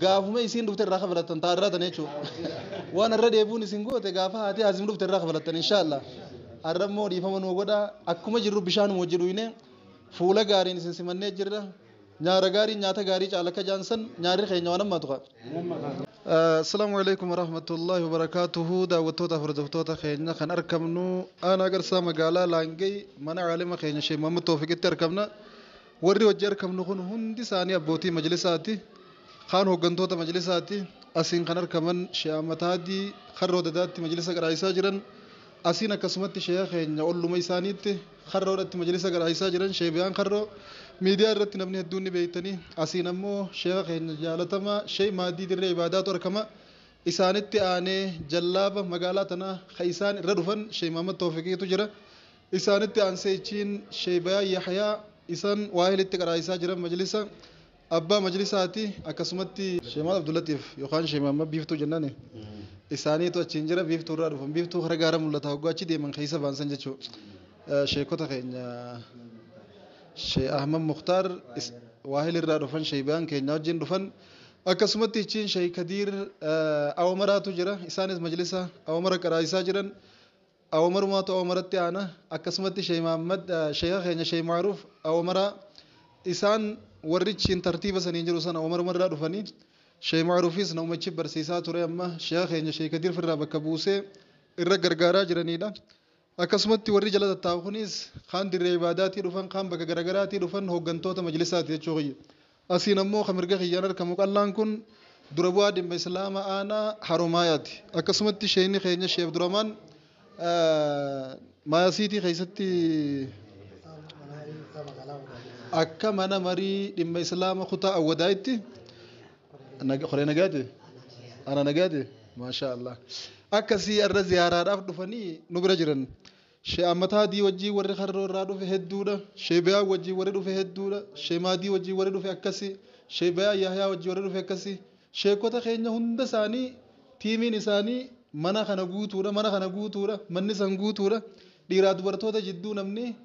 Gaafuma isiin dhufte irraa kafalattan taa irraa tana jechuudha. Waan irra deebi'uun isin goote gaafa haati Haazim dhufte irraa kafalattan inshaallah. Har'a immoo dhiifama nuu godha akkuma jirru bishaanuma wajji dhuyne fuula gaariin isin simannee jirra. Nyaara gaariin nyaata gaarii caala akka jaan san nyaarri keenya waan ammaatu qaba. Assalaamu alaikum warahmatullahi wabarakaatuhu daawwattoota hordoftoota keenya kan argamnu aanaa garsaa magaalaa Laangee mana caalima keenya Sheekh Muhammad Toofiqitti argamna. Warri hojii arkamnu kun hundi isaanii abbootii majlisaati. Kaan hoggantoota majlisaati. Asiin kan arkaman Sheekh Ahmad Haadii karra Odadaatti majlisa qaraaisaa jiran. Asiin akkasumatti sheekha keenya olluma isaaniitti karra Odatti majlisa qaraaisaa jiran Sheekh Biyaan Karroo. Miidiyaa irratti namni hedduun ni beektanii. Asiin ammoo sheekha keenya jaalatamaa Sheekh Maadii Dirree Ibaadaatu arkama. Isaanitti aanee jallaaba magaalaa tanaa ka isaan irra dhufan Sheekh Mahammad Toofiqiitu jira. Isaanitti aansee ichiin Sheeybayaa Yahyaa isan waahil itti qaraaisaa jiran majlisa Abbaa majlisaati akkasumatti. Sheey Mahammad Abdullatiif yookaan Sheey Mahammad Biiftuu jennani isaaniitu achiin jira Biiftuu irraa dhufan Biiftuu kara gaara mullata hogguu achi deeman keessa ba'an san jechuu Sheeykota keenya Sheey Ahmad Muktaar waahil irraa dhufan Sheeybayaan keenya wajjiin dhufan akkasumatti ichiin Sheey Kadiir Awamaraatu jira isaanis majlisa Awamara qaraaisaa jiran a Omarumaatu a Omaratti aana akkasumatti Sheikh Muhammad Sheikha keenya Sheikh Ma'ruf a Omaraa isaan warrichiin tartiiba saniin jiru sana Omarumarraa dhufanii Sheikh Ma'rufis naumachi barsiisaa ture amma Sheikha keenya Sheikh Kadir firraa bakka buusee irra gargaaraa jiraniidha. Akkasumatti warri jala tattaa'u kunis kaan dirree ibaadaatii dhufan kaan bakka garagaraatii dhufan hooggantoota majlisaati jechuu kiyya. Asiin ammoo kan mirga kiyyaan arkamu qallaan kun dura bu'aa dhimma Islaama aanaa Haromaayaati. Akkasumatti sheeyni keenya Sheeh Abduramaan Maayasiitii keessatti akka mana marii dhimma Islaama kutaa Awwadaayitti koree nagaati ana nagaati maashaa Allah akkasii irra ziyaaraadhaaf dhufanii nu bira jiran. She Ammataadii wajjin warri Harroo irraa dhufe hedduudha. She Beyaa wajjin warri dhufe hedduudha. She Maadii wajjin warri dhufe akkasi. She Beyaa Yahyaa wajjin warri dhufe akkasi. Sheekota keenya hunda isaanii tiimiin isaanii mana kana guutuudha. Mana kana guutuudha. Manni san guutuudha. Dhiiraa dubartoota jidduu namni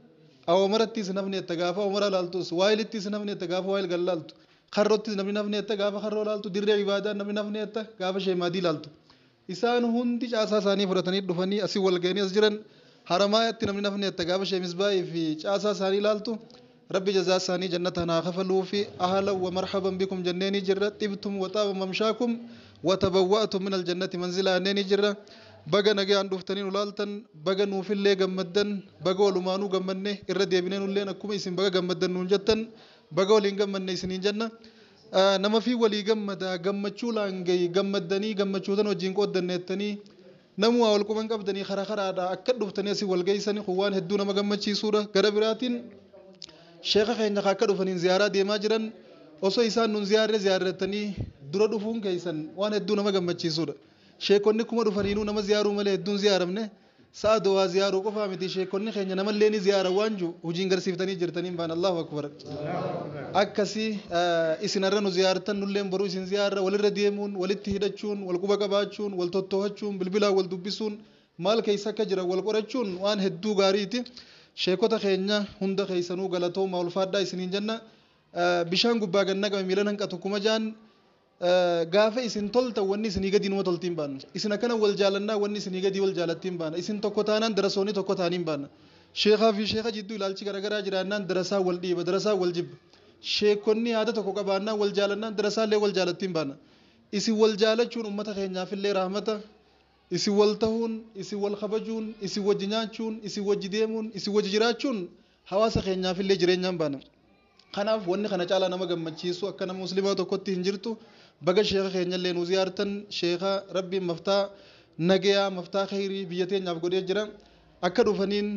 awoomaratti isin hafne jetta gaafa awoomara laaltus. Waayilitti isin hafne jetta gaafa waayil kan laaltu. Harrottis namni hin hafne jetta gaafa harroo laaltu. Dirree ibaadaa namni hin hafne jetta gaafa She Maadii laaltu. Isaan hundi caasaa isaanii fudhatanii dhufanii asi wal ga'anii as jiran Haramaayaatti namni nafni atta gaafa Shee Misbaahii fi caasaa isaanii ilaaltu Rabbi jazaa isaanii jannataan haa kafaluu fi ahalan wa marhaban bikum jenneenii jirra xibtum wa xaaba mamshaakum wa tabawwa'tum min aljannati manzilaa jenneenii jirra baga nagayaan dhuftanii nu laaltan baga nuufillee gammaddan baga walumaanuu gammadne irra deebinee nulleen akkuma isin baga gammaddan nuun jettan baga waliin gammadne isiniin jenna Ah, namafii walii gammadaa gammachuu laangayi gammaddanii gammachuu tan wajjiin qooddanne jettanii namuu waa wal quban qabdanii kara karaadha akka dhuftanii asii wal geessani kun waan hedduu nama gammachiisuudha gara biraatiin sheeka keenya ka akka dhufaniin ziyaaraa deemaa jiran osoo isaan nun ziyaarre ziyaarratanii dura dhufuun keessan waan hedduu nama gammachiisuudha sheekonni kuma dhufaniinuu nama ziyaaruu malee hedduun ziyaaramne Sa'a dawaa ziyaaruu qofaa miti sheekonni keenya namallee ni ziyaaran waan jiru hojiin garsiiftanii jirtaniin baan Allahu akbar. Akkasi isin har'a nu ziyaartan nulleen boruu isin ziyaarra walirra deemuun walitti hidhachuun wal quba qabaachuun wal tottoohachuun bilbilaan wal dubbisuun maal keessa akka jiran wal qorachuun waan hedduu gaariiti. Sheekota keenya hunda keessanuu galatoomaa ulfaadhaa isiniin jenna. Bishaan gubbaa gad naqame miilan hanqatu kuma jaan Gaafa isin toltan wanni isinii gadii numa toltiin baanna. Isin akkana wal jaalannaa wanni isinii gadii wal jaalattiin baana. Isin tokko taanaan darasoonni tokko taaniin baana. Sheekaa fi sheeka jidduu ilaalchi garaagaraa jiraannaan darasaa wal dhiiba, darasaa wal jibba. Sheekonni yaada tokko qabaannaan wal jaalannaan darasaallee wal jaalattiin baana. Isin wal jaalachuun ummata keenyaafillee rahmata. Isin wal tahuun, isin wal kabajuun, isin wajji nyaachuun, isin wajji deemuun, isin wajji jiraachuun hawaasa keenyaafillee jireenyaan baana. Kanaaf wanni kana caalaa nama gammachiisu akka nama muslimaa tokkotti hin jirtu. Baga sheeka keenyallee nu ziyaartan sheeka rabbiin maftaa nageyaa maftaa kheyrii biyya teenyaaf godhee jira. Akka dhufaniin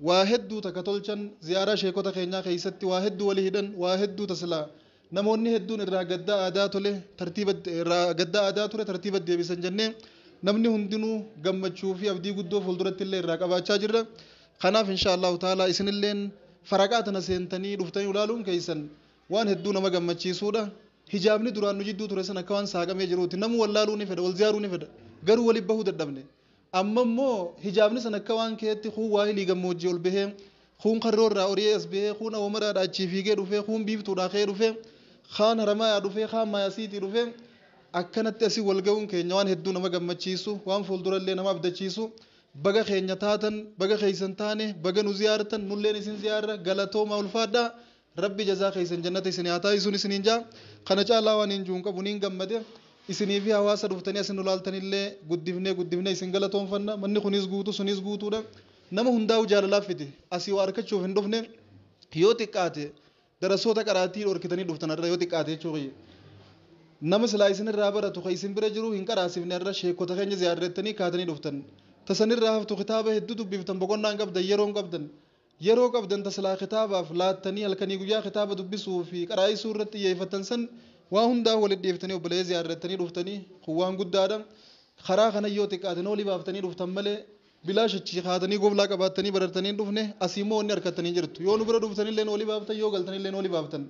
waa hedduu takka tolchan ziyaaraa sheekota keenyaa keessatti waa hedduu wali hidhan waa hedduu tasilaa namoonni hedduun irraa gaddaa aadaa tole tartiiba irraa gaddaa aadaa ture tartiiba deebisan jennee namni hundinuu gammachuu fi abdii guddoo fuulduratti illee irraa qabaachaa jirra. Kanaaf inshaa Allahu ta'aalaa isinilleen Faraqaa tana seentanii dhuftanii nu laaluun keessan waan hedduu nama gammachiisuudha. Hijaabni duraan nu jidduu ture san akka waan saaqamee jiruuti. Namuu wal laaluu ni fedha, wal ziyaaruu ni fedha. Garuu wali bahuu dadhabne. Amma immoo hijaabni san akka waan keetti kuun waahilii gammoojjii ol bahee, kuun karroo irraa oriyee as bahee, kuun awomaraadha achii fiigee dhufee, kuun biiftuudhaa ka'ee dhufee, kaan haramaayaa dhufee, kaan maayasiitii dhufee akkanatti asii wal gahuun keenya waan hedduu nama gammachiisu, waan fuuldurallee nama abdachiisu. baga keenya taatan baga keessan taane baga nu ziyaartan nulleen isin ziyaarra galatooma ulfaadha rabbi jazaa keessan jannata isin haa taasisuun isiniin jaa kana caalaa waan hin juun qabu niin gammade isinii fi hawaasa dhuftanii asin nu laaltanillee guddifnee guddifnee isin galatoonfanna manni kunis guutuu sunis guutuudha nama hundaa'u jaalalaaf fide asii waa arkachuuf hin dhufne yoo xiqqaate Darasoota qaraatii dhorkitanii dhuftan har'a yoo xiqqaate jechuu kiyya. Nama silaa isin irraa baratu ka isin bira jiru hin qaraasifne har'a sheekkota keenya ziyaarra jettanii kaatanii dhuftan. Ta san irraa haftu kitaaba hedduu dubbiftan boqonnaa hin qabdan yeroo hin qabdan. Yeroo qabdan ta silaa kitaabaaf laattanii halkanii guyyaa kitaaba dubbisuu fi qaraa'isuu irratti xiyyeeffattan san waa hundaa walitti dhiiftanii obboleeyya ziyaarra jettanii dhuftanii kun waan guddaadha. Karaa kanan yoo xiqqaate noolii baaftanii dhuftan malee Bilaash achii kaatanii goblaa qabaattanii barartanii hin dhufne, asii immoo wanni arkattanii hin jirtu. Yoo nu bira dhuftanillee noolii baaftan, yoo galtanillee noolii baaftan.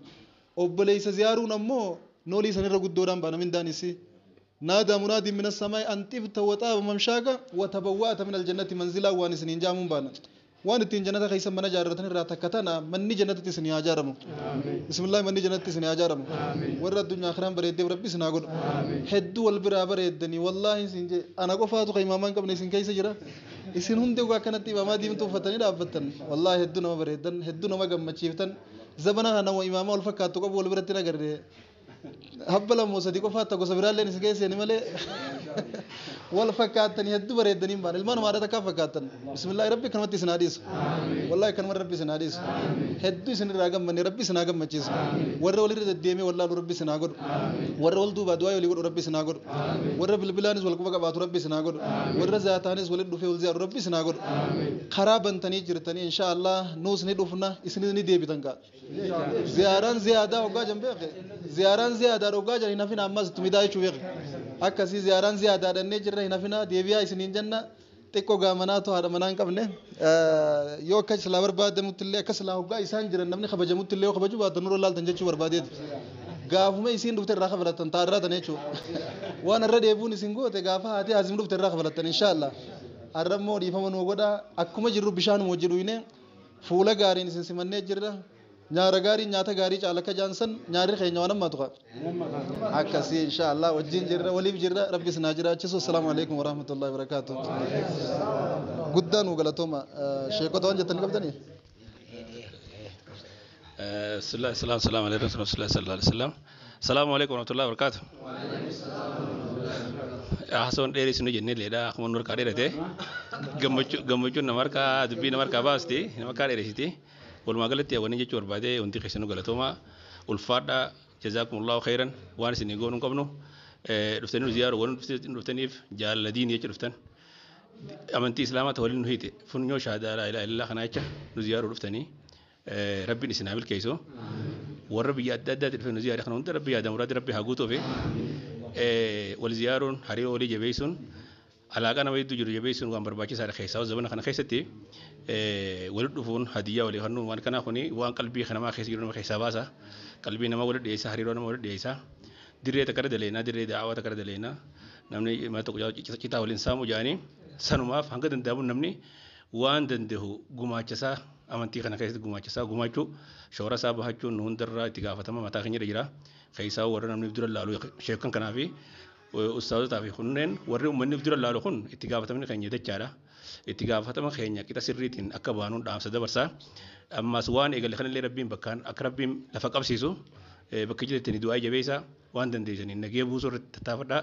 Obboleessa ziyaaruun ammoo noolii sanirra guddoodhaan baana mindaan isii. Naadaa munaadiin minas samaa'i an xibta wa xaaba mamshaaka wa tabawwa'ata minal jannati manzilaa waan isiniin ja'amuun baana. Waan ittiin jannata keessan mana jaarratanirraa takka tana manni jannatatti isinii haa jaaramu. bismillahi manni janatti isin haa jaaramu warra addunyaa akiraan bareeddeef rabbi isin haa godhu hedduu wal biraa bareeddanii wallaahi isin jee ana qofaatu kan imaamaa hin qabne isin keessa jira isin hundi ogaa akkanatti imaamaa diimtuu uffatanii dhaabbattan wallaahi hedduu nama bareeddan hedduu nama gammachiiftan zabana kana nama imaamaa wal fakkaattu qabu wal biratti hin agarre habba lammoo sadi qofaatta gosa biraalleen si keesseeni malee wal fakkaattanii hedduu bareeddanii hin baane ilmaan namaa haadha takkaa fakkaattan bismillaahi rabbi kanumatti isin haa dhiisu wallaahi kanuma rabbi isin haa dhiisu hedduu isin irraa gammanne rabbi isin haa gammachiisu warra walirra deddeemee wallaalu rabbi isin haa godhu warra wal duubaa du'aa walii godhu rabbi isin haa godhu warra bilbilaanis wal quba qabaatu rabbi isin haa godhu warra zaataanis walitti dhufee wal ziyaaru rabbi isin haa godhu karaa bantanii jirtanii inshaa Allah nuus ni dhufna isinis ni deebitan kaa ziyaaran ziyaadaa hoggaa jan beeke ziyaaran ziyaadaa hoggaa jan hin hafina ammas itti midaa jechuu beeke akkasii ziyaaran ziyaadaa dhannee jirra hin hafina deebi'aa isiniin jenna xiqqoo gaamanaa too haadha manaa hin qabne yoo akka silaa barbaadamutti illee akka silaa hoggaa isaan jiran namni kabajamutti illee yoo kabajuu baatan nurra laaltan jechuu barbaadeeti gaafuma isiin dhufte irraa kafalattan taa irraa tan jechuudha waan irra deebi'uun isin goote gaafa haati haazim dhufte irraa kafalattan inshaallah har'a immoo dhiifama nuu godha akkuma jirru bishaan wajji dhuyne Fuula gaariin isin simannee jirra. Nyaara gaariin nyaata gaarii caala akka jaan san nyaarri keenya waan hammaatu kaa. Akkasii insha Allah wajjin jirra waliif jirra rabbi isin haa jiraachisu. Assalaamu alaikum warahmatullahi wabarakaatu. Guddaa nuu galatooma. Sheekota waan jettan qabdanii? Bismillah, salaam, salaam, alaikum, sallallahu alaihi wasallam. Salaamu alaikum warahmatullahi wabarakatuh. Haasawan dheerii isin hojjennee leedha akkuma nu harkaa dheerate gammachuun nama harkaa dubbii nama harkaa baasti nama harkaa dheeresiti walumaa galatti hawwanii jechuu barbaadee hundi keessanuu galatooma ulfaadha jazaakumullahu khairan waan isin goonuu hin qabnu dhuftanii nu ziyaaru waan dhuftaniif jaalala diinii jecha dhuftan amantii islaamaa ta'e waliin nu hiite funyoo shahaadaa laa ilaaha illallaa kanaa jecha nu ziyaaruu dhuftanii Rabbiin isin haa milkeessu. Warra biyya adda addaatti dhufee nu ziyaare kana hunda rabbi yaada muraadii rabbi haa guutuufi. Wal ziyaaruun hariiroo olii jabeessuun alaaqaa nama hedduu jiru jabeessuun waan barbaachisaadha keessaa zabana kana keessatti walitti dhufuun hadiyyaa walii kennuun waan kanaa kuni waan qalbii namaa keessa jiru nama keessaa baasa. Qalbii namaa walitti dhiyeessa hariiroo nama walitti dhiyeessa. Dirree takka irra daleena dirree daawaa takka irra daleena namni mana tokko citaa waliin saamu jedhanii sanumaaf hanga danda'amu namni waan dandahu gumaachasaa amantii kana keessatti gumaachasaa gumaachuu shoora isaa bahachuun nu hundarraa itti gaafatama mataa keenyarra jira. Keessaa warra namni of dura laalu sheekan kanaa fi ustaazotaa fi kunneen warri uummanni of dura laalu kun itti gaafatamni keenya dachaadha. Itti gaafatama keenya qixa sirriitiin akka baanuun dhaamsa dabarsaa. Ammas waan eegale kanallee rabbiin bakkaan akka rabbiin lafa qabsiisu bakka jireetti ni du'aa jabeessaa. Waan dandeessaniin nagaya buusuu irratti tattaafadhaa.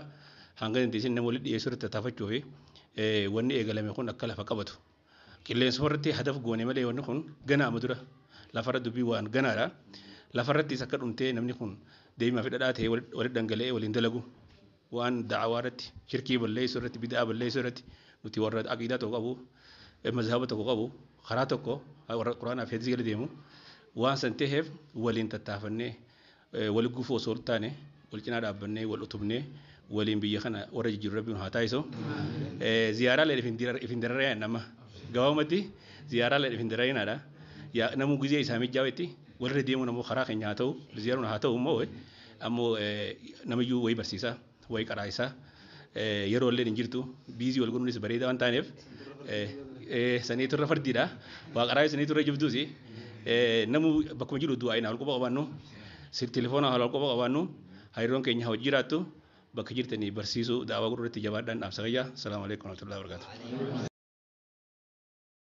Hanga dandeessin nama walitti dhiyeessuu irratti tattaafachuu fi wanni eegalame kun akka lafa qabatu. Qilleensuma irratti hadaf goone malee wanni kun ganaa amma dura lafarra dubbii waan ganaadha. Lafarrattis akka dhumtee namni kun deemaa fi dhadhaa ta'ee walitti dhangala'ee waliin dalagu waan da'awaa irratti shirkii balleessuu irratti bid'aa balleessuu irratti nuti warra aqiidaa tokko qabu mazhaba tokko qabu karaa tokko warra quraanaa fi hadiisii gala deemu waan san ta'eef waliin tattaafannee Wal gufuu osoo hin taane wal cinaa dhaabbannee wal utubnee waliin biyya kana warra jijjiiru rabbiin haa taasisu. Ziyaaraa leen if hin dararee nama gabaabumatti ziyaaraa leen if hin dararinaadha. Namuu gizee isaa mijjaawetti walirra deemuun ammoo karaa keenya haa ta'u ziyaaruun haa ta'u immoo ammoo namiyyuu wayii barsiisa. Way qaraa isaa yeroo illee hin jirtu biizii wal godhuunis bareeda waan taaneef sanii turre fardiidha waa qaraa sanii turre jibduusi namu bakkuma jiru du'aa inaa walquba qabaannu telefoona haala walquba qabaannu hariiroon keenya hojii jiraattu bakka jirtanii barsiisuu daawaa godhuu irratti jabaadhaan dhaamsa fayyaa salaamu alaikum warahmatullahi wabarakatuh.